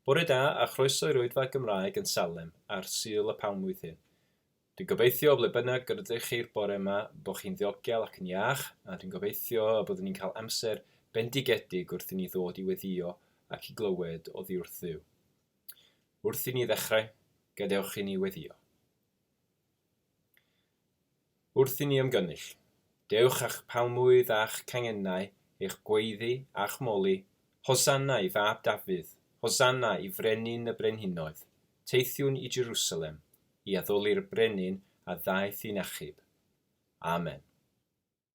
Bore da a chroeso i'r Oedfa Gymraeg yn Salem ar Sul y Palmwydd hyn. Dwi'n gobeithio o ble bynnag yr ydych chi'r bore yma bod chi'n ddiogel ac yn iach a dwi'n gobeithio y byddwn ni'n cael amser bendigedig wrth i ni ddod i weddïo ac i glywed oddi wrth Dduw. Wrth i ni ddechrau, gadewch i ni weddïo. Wrth i ni ymgynnull, dewch â'ch palmwydd a'ch cangennau, eich gweiddi a'ch moli, Hosanna i fab Dafydd, Hosanna i Frenin y Brenhinoedd, teithiwn i Jerusalem i addoli'r Brenin a ddaeth i'n achub. Amen.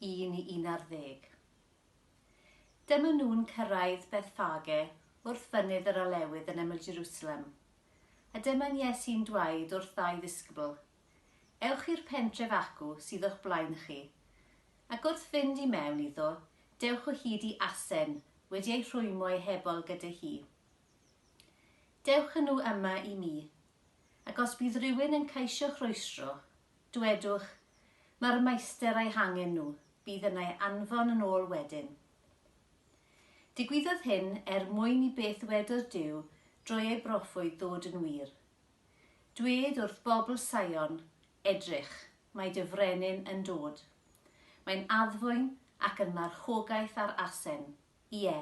1 i 11. Dyma nhw'n cyrraedd Bethphage wrth fynydd yr Olewydd yn ymyl Jerusalem, a dyma'n Iesu'n dwaed wrth ddau ddisgybl, Ewch i'r pentref acw sydd o'ch blaen chi, ac wrth fynd i mewn iddo, dewch o hyd i asen wedi ei rhwymo ei hebol gyda hi. Dewch â nhw yma i mi, ac os bydd rhywun yn caesio rhwystro, Dwedwch, Mae'r Maester a'i hangen nhw, bydd yn ei anfon yn ôl wedyn. Digwyddodd hyn er mwyn i beth ddwedodd Duw drwy ei broffwyd ddod yn wir. Dwed wrth bobl Saion, Edrych, mae dy Frenin yn dod. Mae'n addfwyn ac yn marchogaeth ar asen. ie,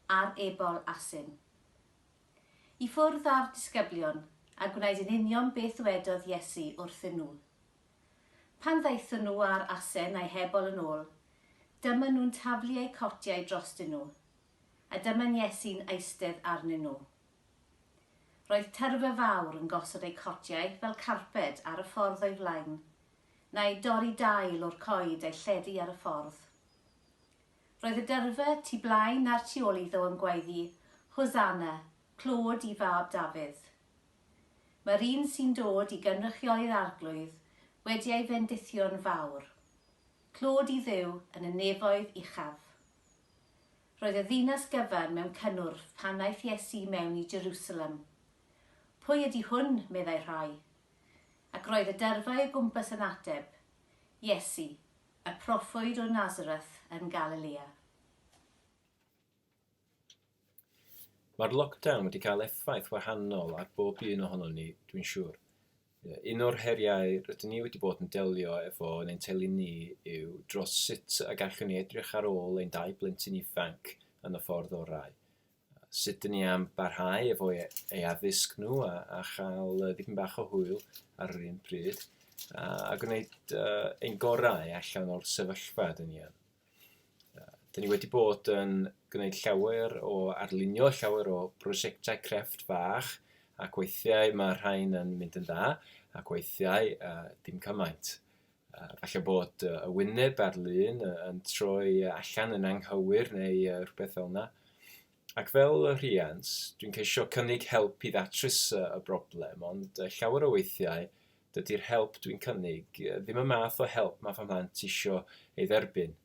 ar ebol asyn. I ffwrdd â'r disgyblion, a gwnaed yn union beth ddwedodd Iesu wrthyn nhw. Pan ddaethon nhw â'r asen a'i hebol yn ôl, dyma nhw'n taflu eu cotiau drostyn nhw, a dyma'n Iesu'n eistedd arnyn nhw. Roedd tyrfa fawr yn gosod eu cotiau fel carped ar y ffordd o'i flaen, neu dorri dail o'r coed a'i lledu ar y ffordd. Roedd y dyrfa tu blaen a'r tu ôl iddo yn gwaeddi, Hosanna, clod i fab Dafydd. Mae'r un sy'n dod i gynrychioli'r Arglwydd wedi ei fendithio'n fawr. Clod i Dduw yn y nefoedd uchaf. Roedd y ddinas gyfan mewn cynnwrf pan ddaeth Iesu mewn i Jerusalem. Pwy ydy hwn, meddai rhai? Ac roedd y dyrfa o'i gwmpas yn ateb, Iesu, Y proffwyd o Nazareth yn Galilea. Mae'r lockdown wedi cael effaith wahanol ar bob un ohonon ni, dwi'n siŵr. Un o'r heriau rydyn ni wedi bod yn delio efo yn ein teulu ni yw dros sut y gallwn ni edrych ar ôl ein dau blentyn ifanc yn y ffordd orau. sut dyn ni am barhau efo e, ei addysg nhw a, a chael uh, dipyn bach o hwyl ar yr un pryd a, a gwneud uh, ein gorau allan o'r sefyllfa dyn ni yn. Uh, dyn ni wedi bod yn gwneud llawer o arlunio llawer o brosiectau crefft fach ac weithiau mae rhain yn mynd yn dda ac weithiau uh, dim cymaint. Falle bod y wyneb a'r lun yn troi allan yn anghywir neu rhywbeth fel yna. Ac fel rhiant, dwi'n ceisio cynnig help i ddatrys y broblem, ond llawer o weithiau dydy'r help dwi'n cynnig ddim y math o help mae fy mhlant isio ei dderbyn.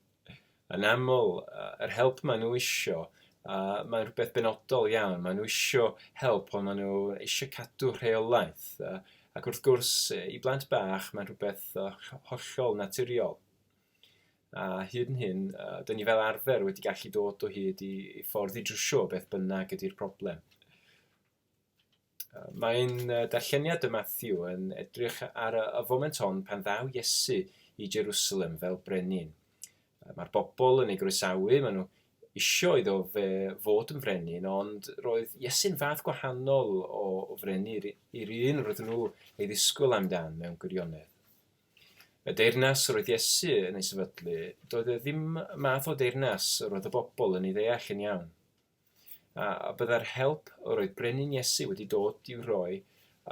yn aml yr help maen nhw isio, a mae'n rhywbeth benodol iawn. Maen nhw isio help, ond maen nhw eisiau cadw rheolaeth. Ac wrth gwrs, i blant bach, mae'n rhywbeth hollol naturiol. A hyd yn hyn, dyn ni fel arfer wedi gallu dod o hyd i, i ffordd i drwsio beth bynnag ydy'r problem. Mae'n darlleniad y Mathew yn edrych ar y foment hon pan ddaw Iesu i Jerusalem fel brenin. Mae'r bobl yn ei groesawu, maen nhw eisiau iddo fe fod yn frenin, ond roedd Iesu'n fath gwahanol o, o frenu i'r un roedden nhw ei ddisgwyl amdan mewn gwirionedd. Y deyrnas roedd Iesu yn ei sefydlu, doedd e ddim math o deyrnas roedd y bobl yn ei ddeall yn iawn. A byddai'r help yr oedd Brenin Iesu wedi dod i'w rhoi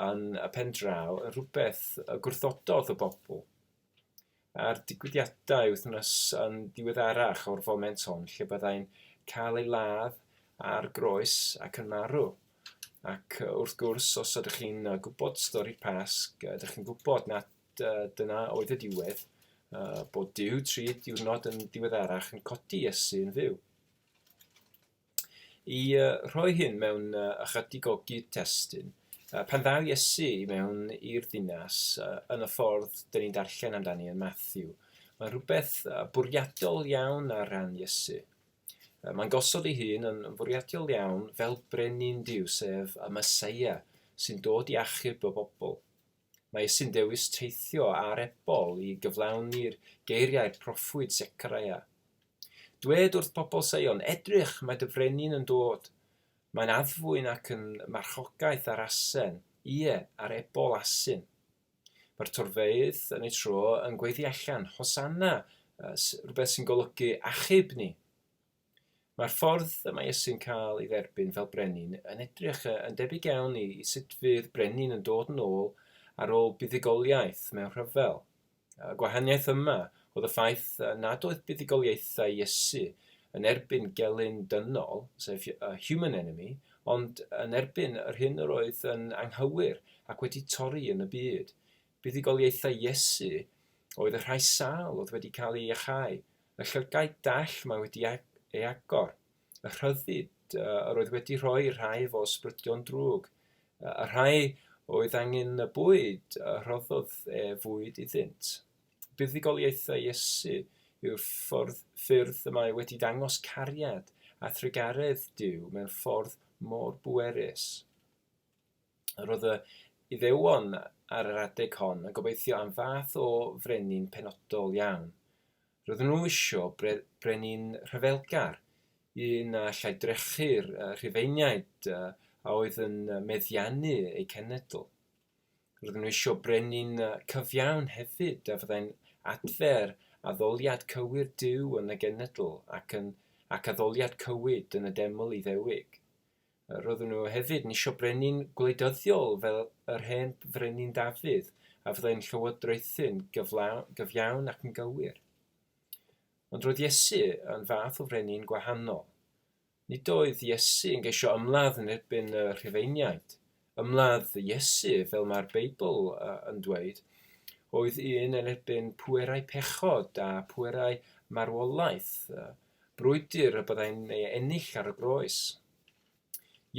yn y pen draw yn rhywbeth y gwrthododd y bobl? A'r digwyddiadau wythnos yn ddiweddarach o'r foment hon lle byddai'n cael ei ladd ar groes ac yn marw. Ac wrth gwrs, os ydych chi'n gwybod stori'r Pasg, ydych chi'n gwybod nad dyna oedd y diwedd, bod Dyw tri diwrnod yn ddiweddarach yn codi Iesu yn fyw. Y rhoi hyn mewn ychydig o gyd-destun, pan ddaw Iesu i mewn i'r ddinas yn y ffordd dyn ni'n darllen amdani yn Mathew, mae'n rhywbeth bwriadol iawn ar ran Iesu. Mae'n gosod ei hun yn fwriadol iawn fel brenin Duw, sef y Meseia sy'n dod i achub y bobl. Mae Iesu'n dewis teithio â'r ebol i gyflawni'r geiriau proffwyd Secaraia. Dwed wrth bobl Seion, Edrych, mae dy frenin yn dod. Mae'n addfwyn ac yn marchogaeth ar asen, ie, ar ebol asyn. Mae'r torfeydd yn ei tro yn gweiddi allan, Hosanna, rhywbeth sy'n golygu achub ni. Mae'r ffordd y mae Iesu'n cael ei dderbyn fel brenin yn edrych yn debyg iawn i sut fydd brenin yn dod yn ôl ar ôl buddugoliaeth mewn rhyfel. Y gwahaniaeth yma oedd y ffaith nad oedd buddugoliaethau Iesu yn erbyn gelyn dynol, sef a human enemy, ond yn erbyn yr hyn yr oedd yn anghywir ac wedi torri yn y byd. Buddugoliaethau Iesu oedd y rhai sâl oedd wedi cael ei iachau, Y llygaid dall mae wedi ei agor. Y rhyddid yr oedd wedi rhoi rhai fo sbrydion drwg. Y rhai oedd angen y bwyd y rhoddodd e fwyd iddynt. Buddugoliaethau Iesu yw'r ffordd, ffyrdd y mae wedi dangos cariad a thrugaredd Duw mewn ffordd mor bwerus. Yr oedd y Iddewon ar yr adeg hon yn gobeithio am fath o frenin penodol iawn. Roedden nhw isio bre brenin rhyfelgar, un a allai drechu'r Rhufeiniaid a oedd yn meddiannu eu cenedl. Roedden nhw isio brenin cyfiawn hefyd a fyddai'n adfer addoliad cywir Duw yn y genedl ac, yn, ac addoliad cywid yn y deml Iddewig. Roedden nhw hefyd yn eisiau brenin gwleidyddiol fel yr hen frenin Dafydd, a fyddai'n llywodraethu'n gyfiawn ac yn gywir. Ond roedd Iesu yn fath o frenin gwahanol. Nid oedd Iesu yn geisio ymladd yn erbyn y Rhufeiniaid, Ymladd Iesu, fel mae'r Beibl yn dweud, oedd un yn erbyn pwerau pechod a phwerau marwolaeth, brwydr y byddai'n ei ennill ar y groes.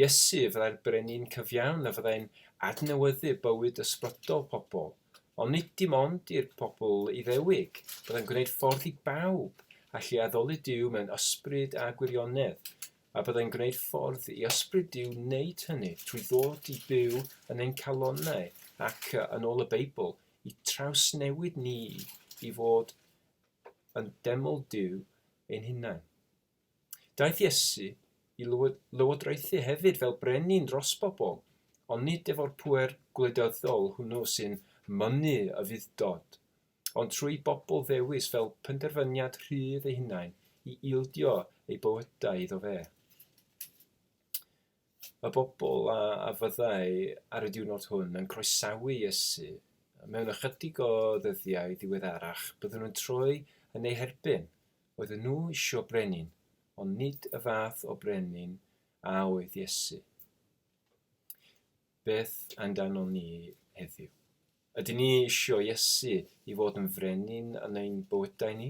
Iesu fyddai'r brenin cyfiawn a fyddai'n adnewyddu bywyd ysbrydol pobl, ond nid dim ond i'r pobl Iddewig, byddai'n gwneud ffordd i bawb allu addoli Duw mewn ysbryd a gwirionedd, a byddai'n gwneud ffordd i Ysbryd Duw wneud hynny trwy ddod i byw yn ein calonnau ac, yn ôl y Beibl, i trawsnewid ni i fod yn deml Duw ein hunain. Daeth Iesu i lywodraethu hefyd fel brenin dros bobl, ond nid efo'r pŵer gwleidyddol hwnnw sy'n mynnu y fudd-dod. ond trwy bobl ddewis fel penderfyniad rhydd eu hunain i ildio eu bywydau iddo fe. Y bobl a, a fyddai ar y diwrnod hwn yn croesawu Iesu mewn ychydig o ddyddiau ddiweddarach, byddwn yn troi yn ei herbyn. Oedden nhw eisiau brenin, ond nid y fath o brenin a oedd Iesu. Beth amdano ni heddiw? Ydyn ni eisiau Iesu i fod yn frenin yn ein bywydau ni?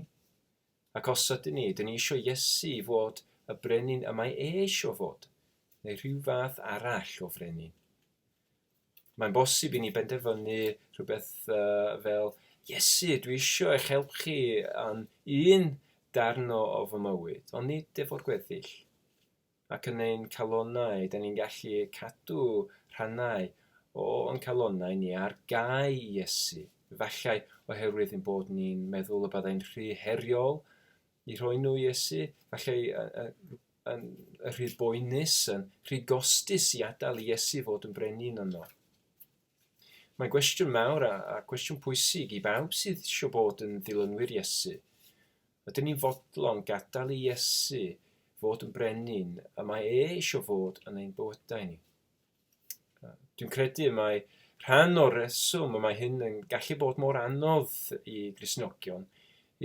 Ac os ydyn ni, ydyn ni eisiau Iesu i fod y brenin y mae e eisiau fod, neu rhyw fath arall o frenin? Mae'n bosib i ni benderfynu rhywbeth uh, fel, Iesu, dwi eisiau eich help chi yn un darn o, o fy mywyd, ond nid efo'r gweddill. ac yn ein calonnau, 'da ni'n gallu cadw rhannau o o'n calonnau ni ar gau i Iesu, efallai oherwydd ein bod ni'n meddwl y byddai'n rhy heriol i roi nhw i Iesu, efallai yn rhy boenus, yn rhy gostus i adael i Iesu fod yn brenin yno. Mae'n gwestiwn mawr a, a cwestiwn pwysig i bawb sydd eisiau bod yn ddilynwyr Iesu. Ydyn ni'n fodlon gadael i Iesu fod yn brenin y mae e eisiau fod yn ein bywydau ni? Dwi'n credu y mae rhan o'r reswm y mae hyn yn gallu bod mor anodd i grisnogion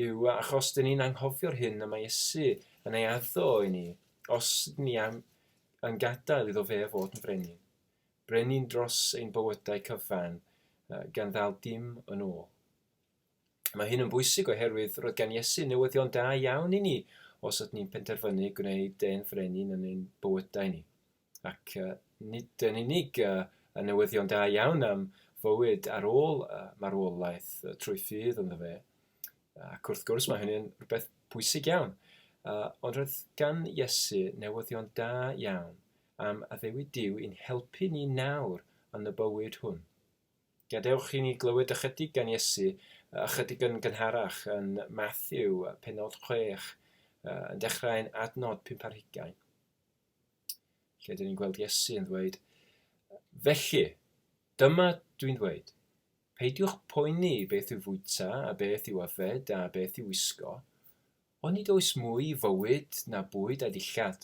yw achos dyn ni'n anghofio'r hyn y mae Iesu yn ei addo i ni os dyn ni am, yn gadael iddo fe fod yn frenin. Brenin dros ein bywydau cyfan gan ddal dim yn ôl. Mae hyn yn bwysig oherwydd roedd gan Iesu newyddion da iawn i ni os ydyn ni'n penderfynu gwneud de'n frenin yn ein bywydau ni. Ac uh, nid yn unig uh, y newyddion da iawn am fywyd ar ôl uh, marwolaeth uh, trwy ffydd ynddo fe, ac wrth gwrs mae hynny'n rhywbeth bwysig iawn, uh, ond roedd gan Iesu newyddion da iawn am addewid Dyw i'n helpu ni nawr yn y bywyd hwn. Gadewch i ni glywed ychydig gan Iesu, ychydig yn gynharach yn Matthew, penod 6, yn dechrau yn adnod 5 ar hugain. Lle dyn ni'n gweld Iesu yn ddweud, Felly, dyma dwi'n ddweud, peidiwch poeni beth i'w fwyta, a beth i'w yfed, a beth i'w wisgo, Ond nid oes mwy i fywyd na bwyd a ddillad.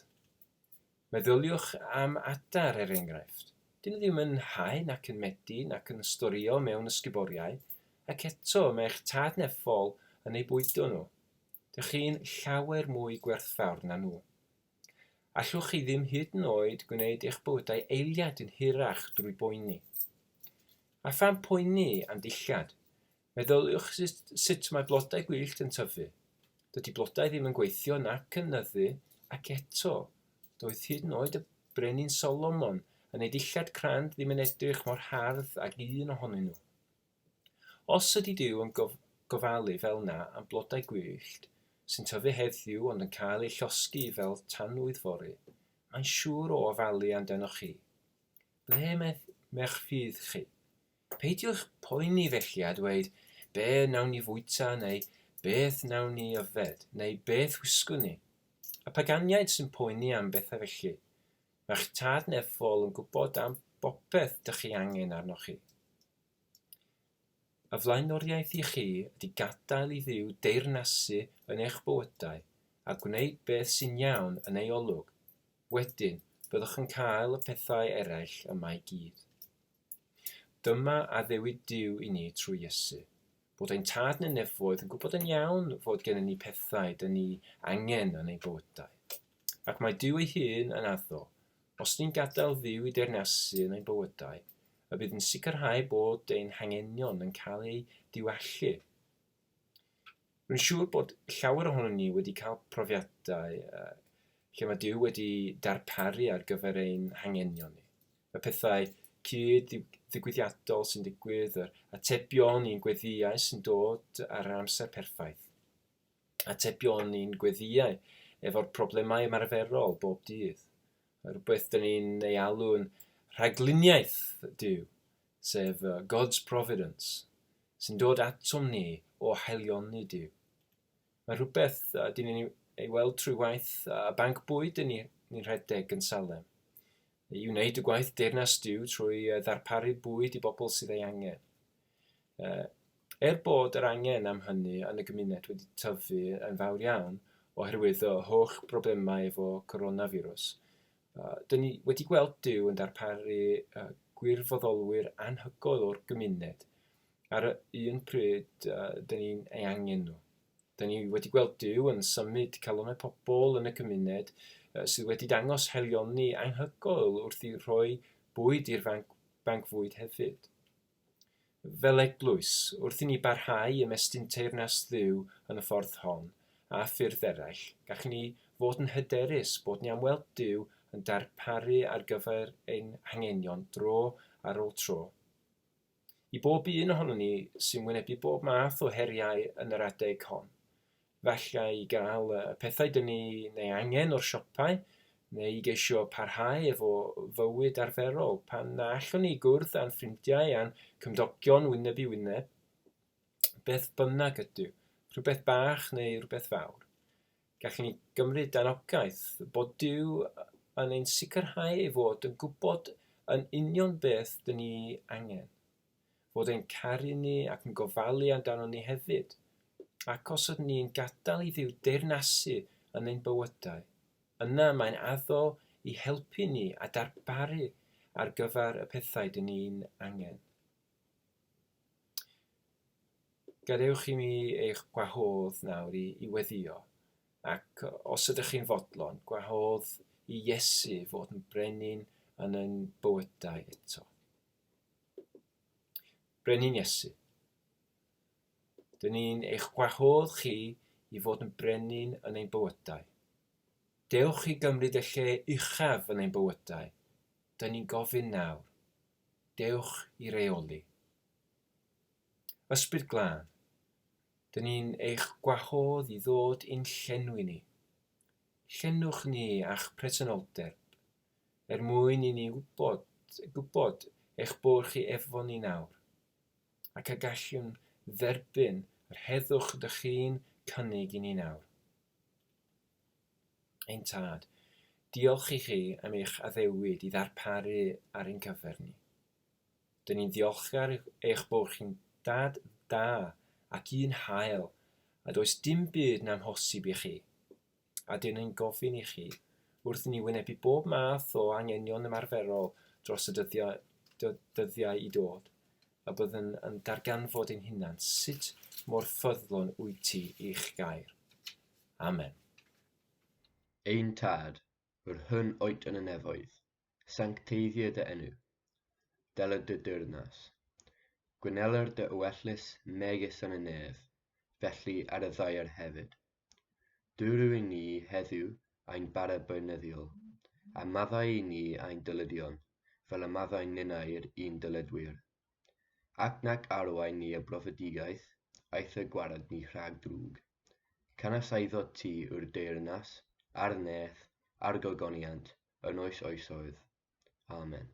Meddyliwch am adar, er enghraifft. Dyn nhw ddim yn hau nac yn medi nac yn storio mewn ysguboriau, ac eto mae'ch tad neffol yn eu bwydo nhw. Dych chi'n llawer mwy gwerthfawr na nhw. Allwch chi ddim hyd yn oed gwneud eich bywydau eiliad yn hirach drwy boeni. A pham poeni am ddillad? Meddyliwch sut sut mae blodau gwyllt yn tyfu. Dydy blodau ddim yn gweithio nac yn nyddu ac eto, doedd hyd yn oed y Brenin Solomon yn ei dillad crand ddim yn edrych mor hardd ag un ohonyn nhw. Os ydy Duw yn gof gofalu fel 'na am blodau gwyllt sy'n tyfu heddiw ond yn cael eu llosgi fel tanwydd fory, mae'n siŵr o ofalu amdanoch chi. Ble mae 'ych ffydd chi? Peidiwch poeni felly a dweud, 'Be wnawn ni fwyta' neu 'Beth wnawn ni yfed' neu 'Beth wisgwn ni? Y paganiaid sy'n poeni am bethau felly. Mae'ch Tad nefol yn gwybod am bopeth dych chi angen arnoch chi. Y flaenoriaeth i chi ydy gadael i Dduw deyrnasu yn eich bywydau a gwneud beth sy'n iawn yn ei olwg. Wedyn, byddwch yn cael y pethau eraill yma i gyd. Dyma addewid Duw i ni trwy Iesu, bod ein Tad neu Nefoedd yn gwybod yn iawn fod gennym ni pethau dyn ni angen yn ein bywydau. Ac mae Duw ei hun yn addo, os ni'n gadael Dduw i deyrnasu yn ein bywydau, y bydd yn sicrhau bod ein hangenion yn cael eu diwallu. Rwy'n siŵr bod llawer ohonon ni wedi cael profiadau lle mae Duw wedi darparu ar gyfer ein hangenion ni. Y pethau cyd-ddigwyddiadol sy'n digwydd, yr atebion i'n gweddiau sy'n dod ar yr amser perffaith. Atebion i'n gweddiau efo'r problemau ymarferol bob dydd. Rhywbeth dyn ni'n ei alw'n rhagluniaeth Duw, sef God's Providence. sy'n dod atom ni o haelion ni Duw. Mae rhywbeth a dyn ni'n ei weld trwy waith a banc bwyd yn ni'n rhedeg yn Salem. I wneud y gwaith deyrnas Duw trwy ddarparu bwyd i bobl sydd ei angen. Er bod yr angen am hynny yn y gymuned wedi tyfu yn fawr iawn oherwydd y holl broblemau efo coronavirus, Dŷn ni wedi gweld Duw yn darparu gwirfoddolwyr anhygoel o'r gymuned ar y un pryd dŷn ni'n ei angen nhw. Dŷn ni wedi gweld Duw yn symud calonau pobl yn y cymuned sydd wedi dangos helioni anhygoel wrth i rhoi bwyd i'r fanc, banc fwyd hefyd. Fel eglwys, wrth i ni barhau ymestyn teyrnas Dduw yn y ffordd hon, a ffyrdd eraill, gallwn ni fod yn hyderus bod ni am weld Duw yn darparu ar gyfer ein hangenion dro ar ôl tro. I bob un ohonon ni sy'n wynebu bob math o heriau yn yr adeg hon, falle i gael y pethau dyn ni'n ei angen o'r siopau, neu i geisio parhau efo fywyd arferol. Pan na allwn ni gwrdd â'n ffrindiau a'n cymdogion wyneb i wyneb, beth bynnag ydyw, rhywbeth bach neu rhywbeth fawr, gallwn ni gymryd anogaeth bod Duw yn ein sicrhau ei fod yn gwybod yn union beth dyn ni angen. fod e'n caru ni ac yn gofalu amdanon ni hefyd, ac os ydyn ni'n gadael i Dduw deyrnasu yn ein bywydau, yna mae'n addo i helpu ni a darparu ar gyfer y pethau dyn ni'n angen. Gadewch i mi eich gwahodd nawr i, i weddio, ac os ydych chi'n fodlon, gwahodd i Iesu fod yn brenin yn ein bywydau eto. Brenin Iesu. Dyn ni'n eich gwahodd chi i fod yn brenin yn ein bywydau. Dewch i gymryd y lle uchaf yn ein bywydau. Dyn ni'n gofyn nawr. Dewch i reoli. Ysbryd glân. Dyn ni'n eich gwahodd i ddod i'n llenwi ni. Llenwch ni a'ch presenoldeb. er mwyn i ni wybod, gwybod eich bod chi efo ni nawr, ac y gallwn dderbyn yr heddwch ydych chi'n cynnig i ni nawr. Ein Tad, diolch i chi am eich addewid i ddarparu ar ein cyfer ni. Dyn ni'n ddiolchgar eich bod chi'n dad da ac un hael, a does dim byd na'n hosib i chi. a dyn yn gofyn i chi wrth i ni wynebu bob math o angenion ymarferol dros y dyddiau, dyddiau i dod, a byddwn yn darganfod ein hunan sut mor ffyddlon wyt ti i'ch gair. Amen. Ein Tad, yr hyn oet yn y nefoedd, sancteiddio dy enw. Deled dy deyrnas. Gwyneler dy ywetlys megis yn y nef, felly ar y ddaear hefyd. Dw i ni heddiw ein bareb beunyddiol, a maddau i ni ein dylydion, fel y maddau ninnau i'r un dyledwyr. Ac nac arwain ni y brofedigaeth, aeth y gwarad ni rhag drwg. Canys aeddot ti yw'r deyrnas, a'r neth, a'r gogoniant, yn oes oesoedd. Amen.